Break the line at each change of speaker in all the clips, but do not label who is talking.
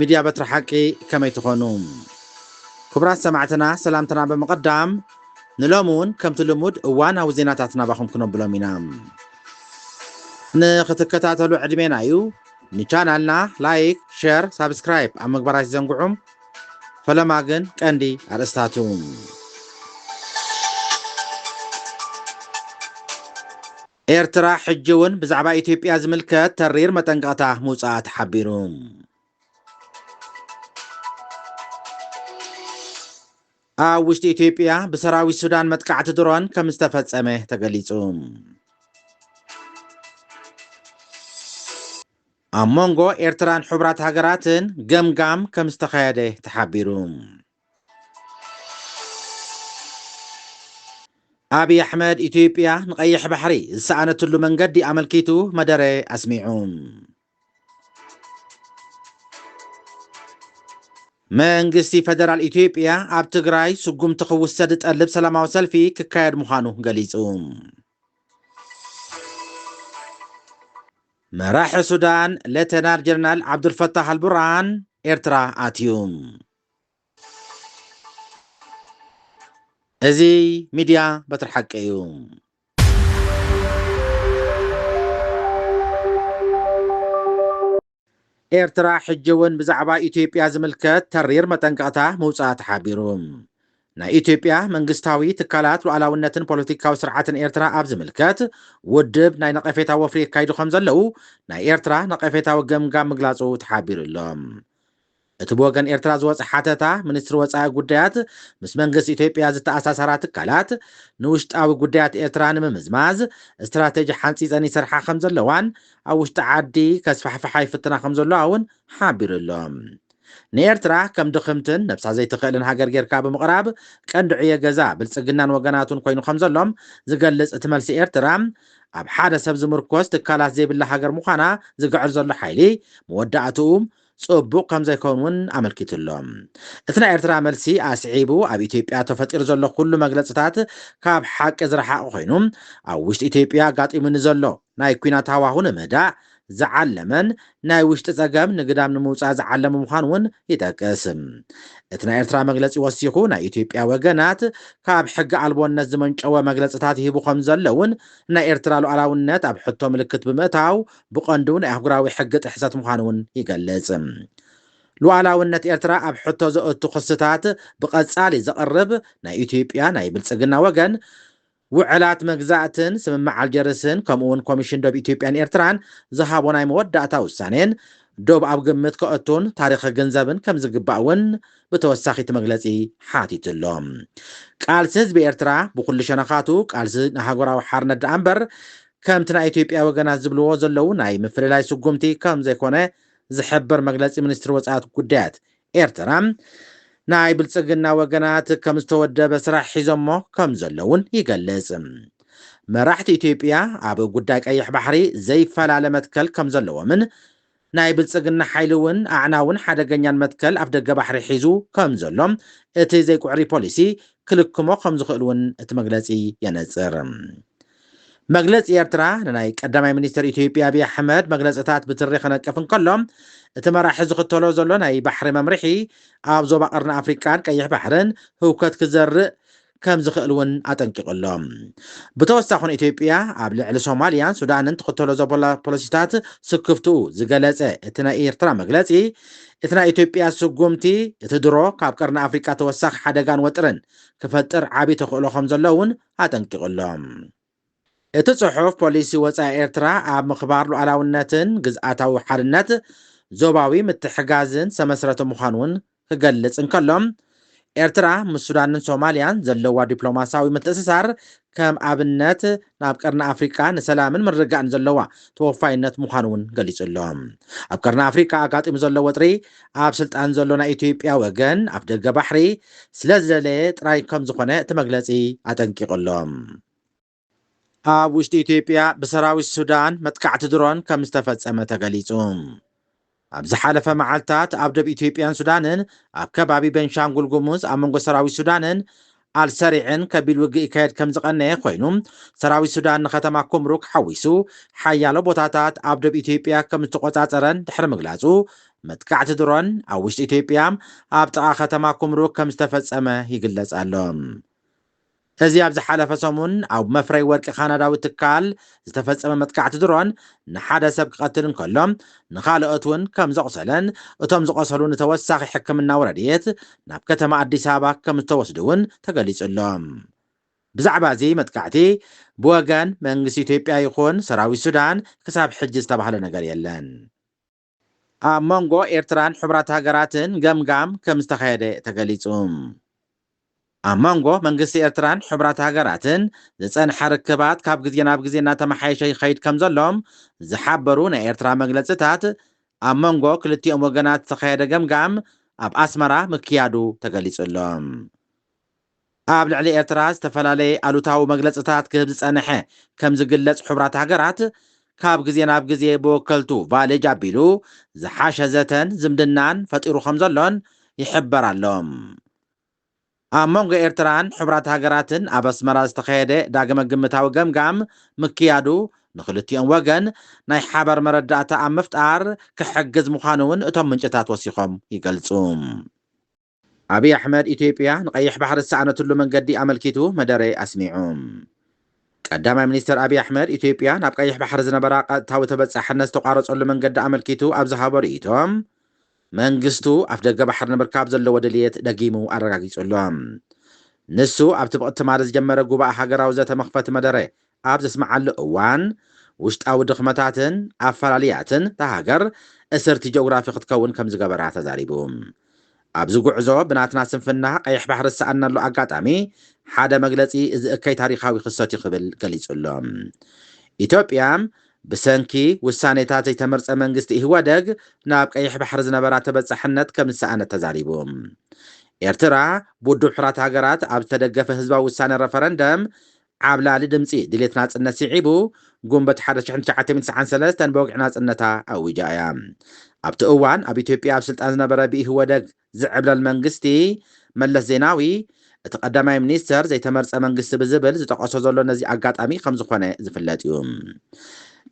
ሚድያ በትሪ ሓቂ ከመይ ትኾኑ ክቡራት ሰማዕትና ሰላምትና ብምቕዳም ንሎሚ ውን ከምቲ ልሙድ እዋናዊ ዜናታት ናባኹም ክነብሎም ኢና ንኽትከታተሉ ዕድሜና እዩ ንቻናልና ላይክ ሸር ሳብስክራይብ ኣብ ምግባር ኣይትዘንግዑ ፈለማ ግን ቀንዲ ኣርእስታቱ ኤርትራ ሕጂ'ውን ብዛዕባ ኢትዮጵያ ዝምልከት ተሪር መጠንቀቕታ ምውጻኣ ተሓቢሩ። ኣብ ውሽጢ ኢትዮጵያ ብሰራዊት ሱዳን መጥቃዕቲ ድሮን ከም ዝተፈጸመ ተገሊጹ። ኣብ መንጎ ኤርትራን ሕቡራት ሃገራትን ገምጋም ከም ዝተኻየደ ተሓቢሩ። ኣብይ ኣሕመድ ኢትዮጵያ ንቀይሕ ባሕሪ ዝሰኣነትሉ መንገዲ ኣመልኪቱ መደረ ኣስሚዑ። መንግስቲ ፈደራል ኢትዮጵያ ኣብ ትግራይ ስጉምቲ ክውሰድ ዝጠልብ ሰላማዊ ሰልፊ ክካየድ ምዃኑ ገሊጹ። መራሒ ሱዳን ሌተናል ጀነራል ዓብዱልፈታህ ኣልቡርሃን ኤርትራ ኣትዩ። እዚ ሚድያ በትሪ ሓቂ እዩ። ኤርትራ ሕጂ እውን ብዛዕባ ኢትዮጵያ ዝምልከት ተሪር መጠንቀቕታ ምውፃኣ ተሓቢሩ። ናይ ኢትዮጵያ መንግስታዊ ትካላት ሉዓላውነትን ፖለቲካዊ ስርዓትን ኤርትራ ኣብ ዝምልከት ውድብ ናይ ነቐፌታ ወፍሪ የካይዱ ከም ዘለዉ ናይ ኤርትራ ነቐፌታዊ ገምጋም ምግላጹ ተሓቢሩ ኣሎ። እቲ ብወገን ኤርትራ ዝወጸ ሓተታ፣ ሚኒስትሪ ወጻኢ ጉዳያት ምስ መንግስቲ ኢትዮጵያ ዝተኣሳሳራ ትካላት፣ ንውሽጣዊ ጉዳያት ኤርትራ ንምምዝማዝ ስትራተጂ ሓንጺጸን ይሰርሓ ከምዘለዋን ኣብ ውሽጢ ዓዲ ከስፋሕፍሓ ይፍትና ከምዘለዋ'ውን ሓቢሩ'ሎ። ንኤርትራ ከም ድኽምትን ነብሳ ዘይትኽእልን ሃገር ጌርካ ብምቕራብ ቀንዲ ዕዮ ገዛ ብልጽግናን ወገናቱን ኮይኑ ከምዘሎ ዝገልጽ እቲ መልሲ ኤርትራ ኣብ ሓደ ሰብ ዝምርኮስ ትካላት ዘይብላ ሃገር ምዃና ዝግዕር ዘሎ ሓይሊ መወዳእትኡ ጽቡቕ ከም ዘይከውን እውን ኣመልኪቱ ኣሎ። እቲ ናይ ኤርትራ መልሲ ኣስዒቡ ኣብ ኢትዮጵያ ተፈጢሩ ዘሎ ኩሉ መግለጽታት ካብ ሓቂ ዝረሓቐ ኮይኑ ኣብ ውሽጢ ኢትዮጵያ ኣጋጢሙ ንዘሎ ናይ ኩናት ሃዋሁ ንምህዳእ ዝዓለመን ናይ ውሽጢ ጸገም ንግዳም ንምውጻእ ዝዓለመ ምዃኑ እውን ይጠቅስ። እቲ ናይ ኤርትራ መግለጺ ወሲኹ ናይ ኢትዮጵያ ወገናት ካብ ሕጊ ኣልቦነት ዝመንጨወ መግለጽታት ይህቡ ከም ዘለውን ናይ ኤርትራ ሉዓላውነት ኣብ ሕቶ ምልክት ብምእታው ብቐንዱ ናይ ኣህጉራዊ ሕጊ ጥሕሰት ምዃኑ እውን ይገልጽ። ሉኣላውነት ኤርትራ ኣብ ሕቶ ዘእቱ ክስታት ብቐጻሊ ዘቕርብ ናይ ኢትዮጵያ ናይ ብልጽግና ወገን፣ ውዕላት መግዛእትን ስምምዕ ኣልጀርስን ከምኡ'ውን ኮሚሽን ዶብ ኢትዮጵያን ኤርትራን ዝሃቦ ናይ መወዳእታ ውሳኔን ዶብ ኣብ ግምት ከእቱን ታሪኽ ክግንዘብን ከምዝግባእ እውን ብተወሳኺ እቲ መግለጺ ሓቲቱ ኣሎ። ቃልሲ ህዝቢ ኤርትራ ብኹሉ ሸነኻቱ ቃልሲ ንሃገራዊ ሓርነት ደኣ'ምበር ከምቲ ናይ ኢትዮጵያ ወገናት ዝብልዎ ዘለዉ ናይ ምፍልላይ ስጉምቲ ከምዘይኮነ ዝሕብር መግለጺ ሚኒስትሪ ወጻኢት ጉዳያት ኤርትራ፣ ናይ ብልጽግና ወገናት ከም ዝተወደበ ስራሕ ሒዞሞ ከም ዘለዉን ይገልጽ። መራሕቲ ኢትዮጵያ ኣብ ጉዳይ ቀይሕ ባሕሪ ዘይፈላለ መትከል ከም ዘለዎምን፣ ናይ ብልጽግና ሓይሊ እውን ኣዕናውን ሓደገኛን መትከል ኣፍደገ ባሕሪ ሒዙ ከም ዘሎ እቲ ዘይኩዕሪ ፖሊሲ ክልክሞ ከም ዝኽእል እውን እቲ መግለጺ የነጽር። መግለጺ ኤርትራ ንናይ ቀዳማይ ሚኒስተር ኢትዮጵያ ኣቢይ ኣሕመድ መግለጽታት ብትሪ ክነቅፍ እንከሎ፣ እቲ መራሒ ዝኽተሎ ዘሎ ናይ ባሕሪ መምርሒ ኣብ ዞባ ቀርኒ ኣፍሪቃን ቀይሕ ባሕርን ህውከት ክዘርእ ከም ዝኽእል እውን ኣጠንቂቑ ኣሎ። ብተወሳኺ ን ኢትዮጵያ ኣብ ልዕሊ ሶማልያን ሱዳንን ትኽተሎ ዘቦላ ፖሊሲታት ስክፍትኡ ዝገለፀ እቲ ናይ ኤርትራ መግለፂ እቲ ናይ ኢትዮጵያ ስጉምቲ እቲ ድሮ ካብ ቀርኒ ኣፍሪቃ ተወሳኺ ሓደጋን ወጥርን ክፈጥር ዓብዪ ተኽእሎ ከም ዘሎ እውን ኣጠንቂቑ ኣሎ። እቲ ጽሑፍ፣ ፖሊሲ ወጻኢ ኤርትራ ኣብ ምኽባር ሉኣላውነትን ግዝኣታዊ ሓድነት፣ ዞባዊ ምትሕጋዝን ዝተመስረተ ምዃኑ'ውን ክገልጽ እንከሎ፣ ኤርትራ ምስ ሱዳንን ሶማልያን ዘለዋ ዲፕሎማስያዊ ምትእስሳር ከም ኣብነት ናብ ቀርኒ ኣፍሪቃ ንሰላምን ምርግጋእን ዘለዋ ተወፋይነት ምዃኑ'ውን ገሊጹ'ሎ። ኣብ ቀርኒ ኣፍሪቃ ኣጋጢሙ ዘሎ ወጥሪ ኣብ ስልጣን ዘሎ ናይ ኢትዮጵያ ወገን ኣፍደገ ባሕሪ ስለዝደለየ ጥራይ ከምዝኾነ እቲ መግለጺ ኣጠንቂቑ ኣሎ። ኣብ ውሽጢ ኢትዮጵያ ብሰራዊት ሱዳን መጥቃዕቲ ድሮን ከምዝተፈጸመ ተገሊጹ። ኣብ ዝሓለፈ መዓልታት ኣብ ዶብ ኢትዮጵያን ሱዳንን ኣብ ከባቢ ቤንሻንጉል ጉሙዝ ኣብ መንጎ ሰራዊት ሱዳንን ኣልሰሪዕን ከቢድ ውግእ ይካየድ ከም ዝቐነየ ኮይኑ፣ ሰራዊት ሱዳን ንከተማ ኩምሩክ ሓዊሱ ሓያሎ ቦታታት ኣብ ዶብ ኢትዮጵያ ከም ዝተቖጻጸረን ድሕሪ ምግላጹ፣ መጥቃዕቲ ድሮን ኣብ ውሽጢ ኢትዮጵያ ኣብ ጥቓ ከተማ ኩምሩክ ከም ዝተፈጸመ ይግለጽ ኣሎ። እዚ ኣብ ዝሓለፈ ሰሙን ኣብ መፍረይ ወርቂ ካናዳዊ ትካል ዝተፈጸመ መጥቃዕቲ ድሮን ንሓደ ሰብ ክቐትል እንከሎ ንኻልኦት እውን ከም ዘቑሰለን እቶም ዝቖሰሉ ንተወሳኺ ሕክምናዊ ረድኤት ናብ ከተማ ኣዲስ ኣበባ ከም ዝተወስዱ እውን ተገሊጹ ኣሎ። ብዛዕባ እዚ መጥቃዕቲ ብወገን መንግስቲ ኢትዮጵያ ይኹን ሰራዊት ሱዳን ክሳብ ሕጂ ዝተባህለ ነገር የለን። ኣብ መንጎ ኤርትራን ሕቡራት ሃገራትን ገምጋም ከምዝተኻየደ ተገሊጹ። ኣብ መንጎ መንግስቲ ኤርትራን ሕቡራት ሃገራትን ዝጸንሐ ርክባት ካብ ግዜ ናብ ግዜ እናተመሓየሸ ይኸይድ ከምዘሎ ዝሓበሩ ናይ ኤርትራ መግለጺታት፣ ኣብ መንጎ ክልቲኦም ወገናት ዝተኻየደ ገምጋም ኣብ ኣስመራ ምክያዱ ተገሊጹ ኣሎ። ኣብ ልዕሊ ኤርትራ ዝተፈላለየ ኣሉታዊ መግለጽታት ክህብ ዝጸነሐ ከም ዝግለጽ ሕቡራት ሃገራት ካብ ግዜ ናብ ግዜ ብወከልቱ ቫሌጅ ኣቢሉ ዝሓሸ ዘተን ዝምድናን ፈጢሩ ከም ዘሎን ይሕበር ኣሎ። ኣብ መንጎ ኤርትራን ሕቡራት ሃገራትን ኣብ ኣስመራ ዝተኸየደ ዳግመ ግምታዊ ገምጋም ምክያዱ ንክልቲኦም ወገን ናይ ሓበር መረዳእታ ኣብ ምፍጣር ክሕግዝ ምዃኑ'ውን እቶም ምንጭታት ወሲኾም ይገልጹ። ኣብይ ኣሕመድ ኢትዮጵያ ንቀይሕ ባሕሪ ዝሰኣነትሉ መንገዲ ኣመልኪቱ መደረ ኣስሚዑ። ቀዳማይ ሚኒስተር ኣብይ ኣሕመድ ኢትዮጵያ ናብ ቀይሕ ባሕሪ ዝነበራ ቀጥታዊ ተበፃሕነት ዝተቋረፀሉ መንገዲ ኣመልኪቱ ኣብ ዝሃቦ ርእይቶ መንግስቱ ኣፍደገ ባሕሪ ንምርካብ ዘለዎ ድልየት ደጊሙ ኣረጋጊፁ ኣሎ። ንሱ ኣብቲ ብቕትማል ዝጀመረ ጉባኣ ሃገራዊ ዘተ መኽፈቲ መደረ ኣብ ዘስምዓሉ እዋን፣ ውሽጣዊ ድኽመታትን ኣፈላልያትን እታ ሃገር እስርቲ ጀኦግራፊ ክትከውን ከም ዝገበራ ተዛሪቡ። ኣብዚ ጉዕዞ ብናትና ስንፍና ቀይሕ ባሕሪ ዝሰኣንናሉ ኣጋጣሚ ሓደ መግለጺ እዚ እከይ ታሪኻዊ ክስተት'ዩ ክብል ገሊጹ'ሎ። ኢትዮጵያ ብሰንኪ ውሳኔታት ዘይተመርጸ መንግስቲ ኢህወደግ ናብ ቀይሕ ባሕሪ ዝነበራ ተበጻሕነት ከም ዝሰኣነት ተዛሪቡ። ኤርትራ ብውድብ ሕራት ሃገራት ኣብ ዝተደገፈ ህዝባዊ ውሳነ ረፈረንደም ዓብላሊ ድምጺ ድሌት ናጽነት ስዒቡ፣ ጉንበት ሓደ ሽሕን ትሽዓተ ሚእትን ትስዓን ሰለስተን ብወግዒ ናጽነታ ኣዊጃ እያ። ኣብቲ እዋን ኣብ ኢትዮጵያ ኣብ ስልጣን ዝነበረ ብኢህወደግ ዝዕብለል መንግስቲ መለስ ዜናዊ፣ እቲ ቀዳማይ ሚኒስተር ዘይተመርጸ መንግስቲ ብዝብል ዝጠቐሶ ዘሎ ነዚ ኣጋጣሚ ከም ዝኾነ ዝፍለጥ እዩ።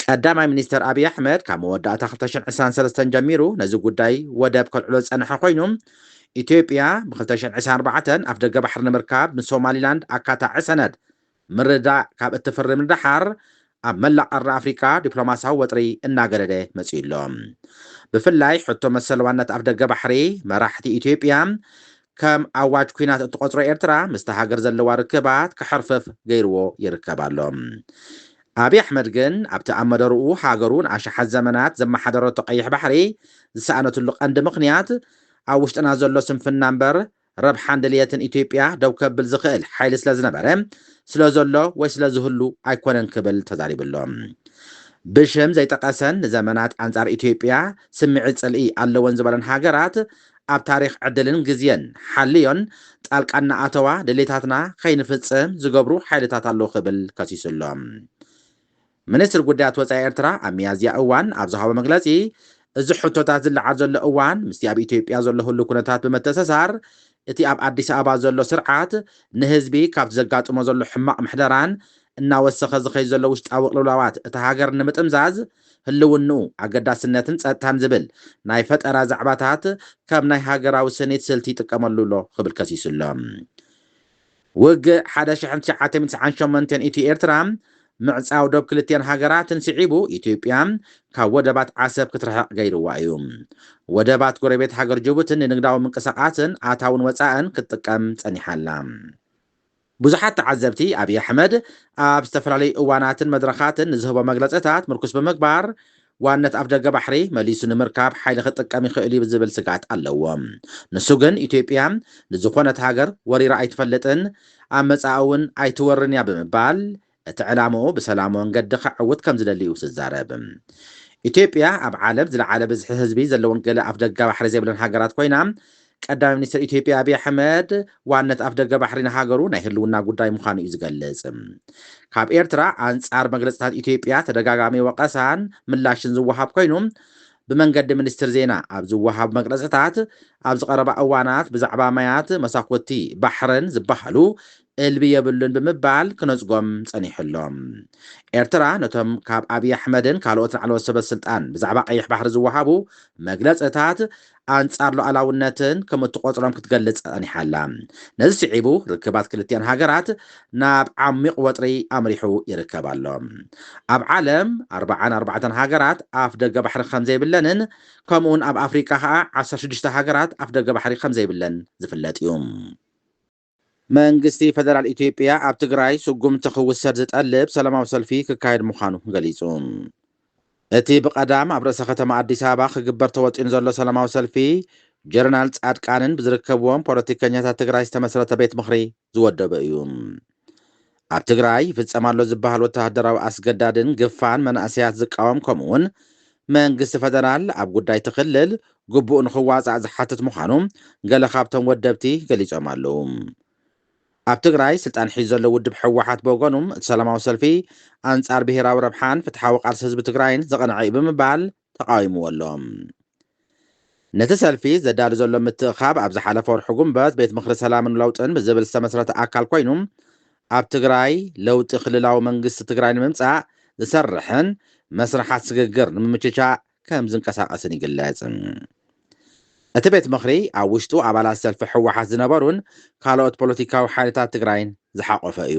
ቀዳማይ ሚኒስተር ኣብይ ኣሕመድ ካብ መወዳእታ ክልተ ሽሕን ዕስራን ሰለስተን ጀሚሩ ነዚ ጉዳይ ወደብ ከልዕሎ ዝጸንሐ ኮይኑ፣ ኢትዮጵያ ብ ክልተ ሽሕን ዒስራን ኣርባዕተን ኣፍደገ ባሕሪ ንምርካብ ምስ ሶማሊላንድ ኣካታዒ ሰነድ ምርድዳእ ካብ እትፍርም ንደሓር ኣብ መላእ ቀርኒ ኣፍሪቃ ዲፕሎማስያዊ ወጥሪ እናገደደ መጺኡ ኣሎ። ብፍላይ ሕቶ መሰል ዋንነት ኣፍደገ ባሕሪ መራሕቲ ኢትዮጵያ ከም ኣዋጅ ኲናት እትቖጽሮ ኤርትራ ምስታ ሃገር ዘለዋ ርክባት ክሕርፍፍ ገይርዎ ይርከብ ኣሎ። ኣብይ ኣሕመድ ግን ኣብቲ ኣብ መደርኡ ሃገሩ ንኣሽሓት ዘመናት ዘመሓደረቶ ቀይሕ ባሕሪ ዝሰኣነትሉ ቀንዲ ምኽንያት ኣብ ውሽጥና ዘሎ ስንፍና እምበር ረብሓን ድልየትን ኢትዮጵያ ደው ከብል ዝኽእል ሓይሊ ስለዝነበረ፣ ስለዘሎ ወይ ስለዝህሉ ኣይኮነን ክብል ተዛሪቡ ኣሎ። ብሽም ዘይጠቐሰን ንዘመናት ኣንጻር ኢትዮጵያ ስምዒት ጽልኢ ኣለወን ዝበለን ሃገራት ኣብ ታሪኽ ዕድልን ግዜን ሓልዮን ጣልቃ እናኣተዋ ድሌታትና ከይንፍፅም ዝገብሩ ሓይልታት ኣለዉ ክብል ከሲሱ ኣሎ። ሚኒስትሪ ጉዳያት ወፃኢ ኤርትራ ኣብ ሚያዝያ እዋን ኣብ ዝሃቦ መግለፂ እዚ ሕቶታት ዝለዓል ዘሎ እዋን ምስቲ ኣብ ኢትዮጵያ ዘሎ ህሉው ኩነታት ብምትእስሳር እቲ ኣብ ኣዲስ ኣበባ ዘሎ ስርዓት ንህዝቢ ካብቲ ዘጋጥሞ ዘሎ ሕማቕ ምሕደራን እናወሰኸ ዝኸይድ ዘሎ ውሽጣዊ ቅልውላዋት እታ ሃገር ንምጥምዛዝ ህልውንኡ፣ ኣገዳስነትን ጸጥታን ዝብል ናይ ፈጠራ ዛዕባታት ከም ናይ ሃገራዊ ስኒት ስልቲ ይጥቀመሉ ኣሎ ክብል ከሲሱ ኣሎ። ውግእ ሓደ ሽሕን ትሽዓተ ሚእትን ትስዓን ሸሞንተን ኢትዮ-ኤርትራ ምዕጻው ዶብ ክልቲኣን ሃገራትን ስዒቡ ኢትዮጵያ ካብ ወደባት ዓሰብ ክትርሕቕ ገይርዋ እዩ። ወደባት ጎረቤት ሃገር ጅቡትን ንንግዳዊ ምንቅስቓስን ኣታውን ወጻእን ክትጥቀም ጸኒሓ ኣላ። ብዙሓት ተዓዘብቲ፣ ኣብይ ኣሕመድ ኣብ ዝተፈላለዩ እዋናትን መድረኻትን ንዝህቦ መግለፅታት ምርኩስ ብምግባር ዋንነት ኣፍደገ ባሕሪ መሊሱ ንምርካብ ሓይሊ ክጥቀም ይኽእል እዩ ዝብል ስግኣት ኣለዎም። ንሱ ግን ኢትዮጵያ ንዝኾነት ሃገር ወሪራ ኣይትፈልጥን፣ ኣብ መፃኢ እውን ኣይትወርርን እያ ብምባል እቲ ዕላምኡ ብሰላሙ መንገዲ ከዐውት ከምዝደሊ እዩ ዝዛረብ። ኢትዮጵያ ኣብ ዓለም ዝለዓለ ብዝሒ ህዝቢ ዘለወን ገለ ኣፍደገ ባሕሪ ዘይብለን ሃገራት ኮይና፣ ቀዳማይ ሚኒስተር ኢትዮጵያ ኣቢይ ኣሕመድ ዋንነት ኣፍደገ ባሕሪ ንሃገሩ ናይ ህልውና ጉዳይ ምዃኑ እዩ ዝገልጽ። ካብ ኤርትራ ኣንጻር መግለጽታት ኢትዮጵያ ተደጋጋሚ ወቐሳን ምላሽን ዝወሃብ ኮይኑ፣ ብመንገዲ ሚኒስትሪ ዜና ኣብ ዝወሃቡ መግለጽታት ኣብዚ ቀረባ እዋናት ብዛዕባ ማያት መሳኹቲ ባሕርን ዝበሃሉ እልቢ የብሉን ብምባል ክነጽጎም ጸኒሑ ኣሎ። ኤርትራ ነቶም ካብ ኣብይ ኣሕመድን ካልኦት ላዕለዎት ሰበስልጣን ብዛዕባ ቀይሕ ባሕሪ ዝወሃቡ መግለጽታት ኣንጻር ሉኣላውነትን ከም እትቖጽሮም ክትገልጽ ጸኒሓ ኣላ። ነዚ ስዒቡ ርክባት ክልቲኣን ሃገራት ናብ ዓሚቕ ወጥሪ ኣምሪሑ ይርከብ ኣሎ። ኣብ ዓለም ኣርብዓን ኣርባዕተን ሃገራት ኣፍ ደገ ባሕሪ ከም ዘይብለንን ከምኡውን ኣብ ኣፍሪቃ ከኣ ዓሰርተ ሽዱሽተ ሃገራት ኣፍ ደገ ባሕሪ ከም ዘይብለን ዝፍለጥ እዩ። መንግስቲ ፈደራል ኢትዮጵያ ኣብ ትግራይ ስጉምቲ ክውሰድ ዝጠልብ ሰላማዊ ሰልፊ ክካየድ ምዃኑ ገሊጹ። እቲ ብቐዳም ኣብ ርእሰ ከተማ ኣዲስ ኣበባ ክግበር ተወጢኑ ዘሎ ሰላማዊ ሰልፊ ጀረናል ጻድቃንን ብዝርከብዎም ፖለቲከኛታት ትግራይ ዝተመስረተ ቤት ምኽሪ ዝወደበ እዩ። ኣብ ትግራይ ይፍፀም ኣሎ ዝበሃል ወተሃደራዊ ኣስገዳድን ግፋን መናእሰያት ዝቃወም ከምኡ እውን መንግስቲ ፈደራል ኣብ ጉዳይ እቲ ክልል ግቡኡ ንኽዋፃእ ዝሓትት ምዃኑ ገለ ካብቶም ወደብቲ ገሊፆም ኣለዉ። ኣብ ትግራይ ስልጣን ሒዙ ዘሎ ውድብ ህወሓት ብወገኑ እቲ ሰላማዊ ሰልፊ ኣንፃር ብሄራዊ ረብሓን ፍትሓዊ ቃልሲ ህዝቢ ትግራይን ዝቐንዐ እዩ ብምባል ተቓዊምዎ ኣሎ። ነቲ ሰልፊ ዘዳሉ ዘሎ ምትእኻብ ኣብ ዝሓለፈ ወርሒ ጉንበት ቤት ምኽሪ ሰላምን ለውጥን ብዝብል ዝተመስረተ ኣካል ኮይኑ ኣብ ትግራይ ለውጢ ክልላዊ መንግስቲ ትግራይ ንምምፃእ ዝሰርሕን መስርሓት ስግግር ንምምችቻእ ከም ዝንቀሳቐስን ይግለፅ። እቲ ቤት ምኽሪ ኣብ ውሽጡ ኣባላት ሰልፊ ህወሓት ዝነበሩን ካልኦት ፖለቲካዊ ሓይልታት ትግራይን ዝሓቖፈ እዩ።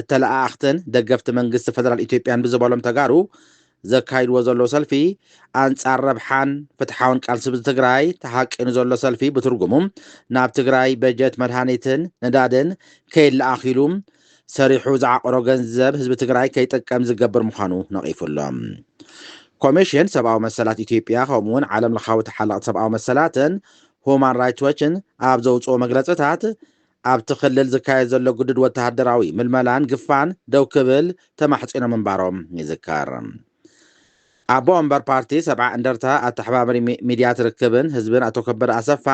እተለኣኣኽትን ደገፍቲ መንግስቲ ፈደራል ኢትዮጵያን ብዝበሎም ተጋሩ ዘካይድዎ ዘለዉ ሰልፊ ኣንጻር ረብሓን ፍትሓውን ቃልሲ ህዝቢ ትግራይ ተሃቂኑ ዘሎ ሰልፊ ብትርጉሙ ናብ ትግራይ በጀት መድሃኒትን ነዳድን ከይለኣኽ ኢሉ ሰሪሑ ዝዓቖሮ ገንዘብ ህዝቢ ትግራይ ከይጥቀም ዝገብር ምዃኑ ነቒፉ ኣሎ። ኮሚሽን ሰብኣዊ መሰላት ኢትዮጵያ ከምኡ'ውን ዓለምለኻዊ ተሓለቕቲ ሰብኣዊ መሰላትን ሁማን ራይትስ ዎችን ኣብ ዘውጽኦ መግለጽታት ኣብቲ ክልል ዝካየድ ዘሎ ግዱድ ወተሃደራዊ ምልመላን ግፋን ደው ክብል ተማሕጺኖም ምንባሮም ይዝከር። ኣቦ ወንበር ፓርቲ ሰብዓ እንደርታ ኣተሓባብሪ ሚድያት ርክብን ህዝብን ኣቶ ከበደ ኣሰፋ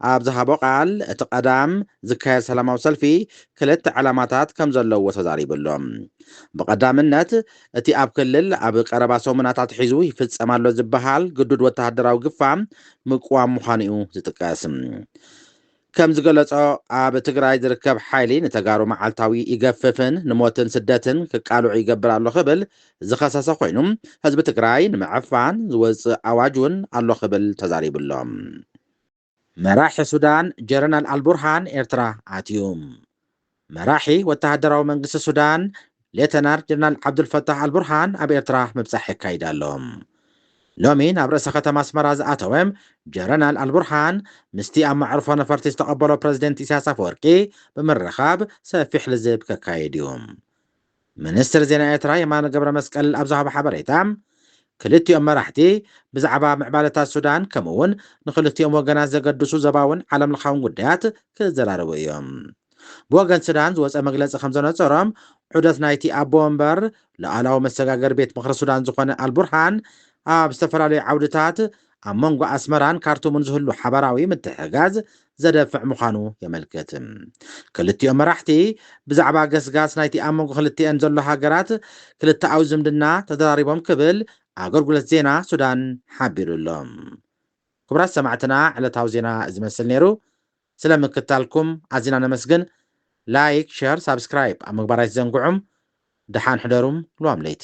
ኣብ ዝሃቦ ቃል እቲ ቀዳም ዝካየድ ሰላማዊ ሰልፊ ክልተ ዕላማታት ከም ዘለዎ ተዛሪቡ ኣሎ። ብቐዳምነት እቲ ኣብ ክልል ኣብ ቀረባ ሰሙናት ኣትሒዙ ይፍጸም ኣሎ ዝበሃል ግዱድ ወተሃደራዊ ግፋ ምቅዋም ምዃኑ እዩ ዝጥቀስ። ከምዝገለፆ ኣብ ትግራይ ዝርከብ ሓይሊ ንተጋሩ መዓልታዊ ይገፍፍን ንሞትን ስደትን ክቃልዑ ይገብር ኣሎ ክብል ዝኸሰሰ ኮይኑ ህዝቢ ትግራይ ንምዕፋን ዝወፅእ ኣዋጅ እውን ኣሎ ክብል ተዛሪቡ ኣሎ። መራሒ ሱዳን ጀረናል ኣልቡርሃን ኤርትራ ኣትዩ። መራሒ ወተሃደራዊ መንግስቲ ሱዳን ሌተናር ጀነራል ዓብዱልፈታሕ ኣልቡርሃን ኣብ ኤርትራ ምብጻሕ የካይድ ኣሎ። ሎሚ ናብ ርእሰ ከተማ ኣስመራ ዝኣተወ ጀረናል ኣልቡርሃን ምስቲ ኣብ መዕርፎ ነፈርቲ ዝተቐበሎ ፕረዚደንት ኢሳያስ ኣፈወርቂ ብምርኻብ ሰፊሕ ልዝብ ከካይድ እዩ። ሚኒስትር ዜና ኤርትራ የማነ ገብረመስቀል ኣብ ዝሃቦ ሓበሬታ፣ ክልቲኦም መራሕቲ ብዛዕባ ምዕባለታት ሱዳን ከምኡ'ውን ንኽልቲኦም ወገናት ዘገድሱ ዞባውን ዓለምለኻውን ጉዳያት ክዘራረቡ እዮም። ብወገን ሱዳን ዝወጸ መግለጺ ከምዘነጸሮ፣ ዑደት ናይቲ ኣቦ ወንበር ልኣላዊ መሰጋገሪ ቤት ምኽሪ ሱዳን ዝኾነ ኣልቡርሃን ኣብ ዝተፈላለዩ ዓውድታት ኣብ መንጎ ኣስመራን ካርቱምን ዝህሉ ሓባራዊ ምትሕግጋዝ ዘደፍዕ ምዃኑ የመልክት። ክልቲኦም መራሕቲ ብዛዕባ ገስጋስ ናይቲ ኣብ መንጎ ክልቲኤን ዘሎ ሃገራት ክልተኣዊ ዝምድና ተዘራሪቦም ክብል ኣገልግሎት ዜና ሱዳን ሓቢሩ ኣሎ። ክቡራት ሰማዕትና ዕለታዊ ዜና እዚ መስል ነይሩ። ስለ ምክታልኩም ኣዚና ነመስግን። ላይክ፣ ሸር፣ ሳብስክራይብ ኣብ ምግባር ኣይትዘንግዑም። ደሓን ሕደሩም ልዋም ለይቲ።